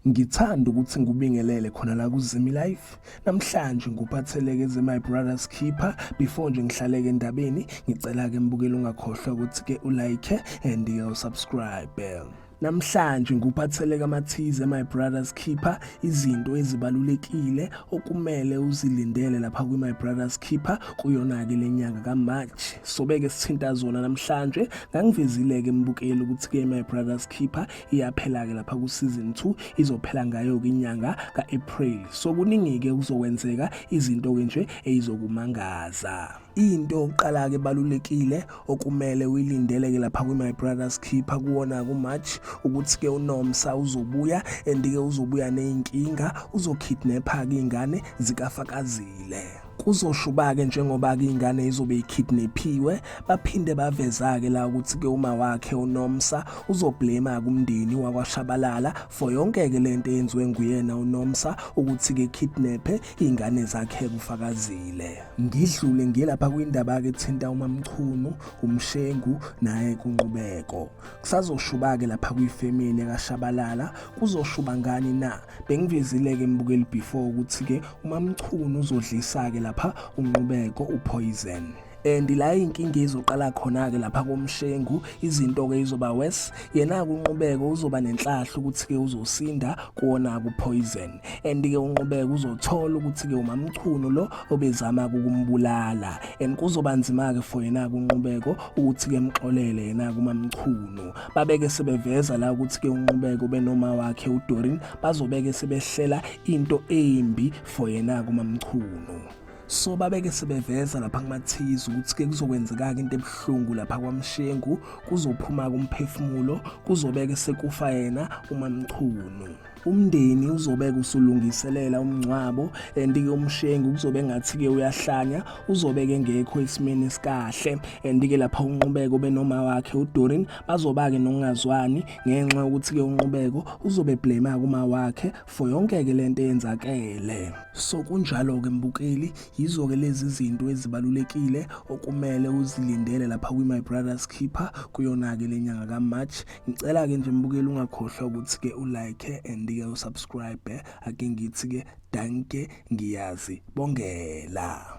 Ngithanda ukuthi ngikubingelele khona la kuZimi Life. Namhlanje ngikuphatheleke ze My Brother's Keeper. Before nje ngihlaleke endabeni, ngicela ke mbukeli ungakhohlwa ukuthi ke ulike and usubscribe. Namhlanje nguphatheleka amathize my brothers keeper izinto ezibalulekile okumele uzilindele lapha kwi my brothers keeper kuyona ke lenyanga ka March sobeke sithinta zona namhlanje ngangivezile ke mbukeli ukuthi ke my brothers keeper iyaphela ke lapha ku season 2 izophela ngayo ke inyanga ka April so kuningi ke kuzokwenzeka izinto ke nje eyizokumangaza into yokuqala-ke ebalulekile okumele uyilindeleke lapha kwi-my brothers keeper kuwona kumarch ukuthi-ke unomsa uzobuya and-ke uzobuya ney'nkinga uzokidnepha-ke iy'ngane zikafakazile kuzoshuba-ke njengoba-ke ingane izobe ikidnephiwe baphinde baveza-ke la ukuthi-ke uma wakhe unomsa uzoblema kumndeni wakwashabalala for yonke-ke le nto eyenziwe nguyena unomsa ukuthi-ke kidnephe iy'ngane zakhe kufakazile ngidlule ngiye lapha kwindaba-ke ethinta umamchunu umshengu naye kunqubeko kusazoshuba-ke lapha kwifemini yakashabalala kuzoshuba ngani na bengivezile-ke mbukeli before ukuthi-ke umamchunu uzodlisa-ke lapha unqubeko uphoyizeni and la inkinga izoqala khona ke lapha komshengu izinto ke izoba worse yena kunqubeko uzoba nenhlahla ukuthi ke uzosinda kuona ku poison and ke unqubeko uzothola ukuthi ke umamchunu lo obezama ukumbulala and kuzoba nzima ke for yena kunqubeko ukuthi ke mxolele yena kumamchunu babeke sebeveza la ukuthi ke unqubeko benoma wakhe uDorin bazobeke sebehlela into embi for yena kumamchunu so babeke sebeveza lapha kumathiyizi ukuthi-ke kuzokwenzekaka into ebuhlungu lapha kwamshengu kuzophuma-ke umphefumulo kuzobeke sekufa yena umamchunu umndeni uzobeke usulungiselela umngcwabo and-ke umshengu kuzobe engathi-ke uyahlanya uzobeke ngekho esimeni esikahle and-ke lapha unqubeko benoma wakhe udorin bazoba-ke nokungazwani ngenxa yokuthi-ke unqubeko uzobe blema kuma wakhe for yonke ke lento eyenzakele so kunjalo ke mbukeli yizo ke lezi zinto ezibalulekile okumele uzilindele lapha kwi my brothers keeper kuyona ke lenyanga ka March ngicela ke nje mbukeli ungakhohlwa ukuthi ke u like and ke u subscribe ake ngithi ke danke ngiyazi bongela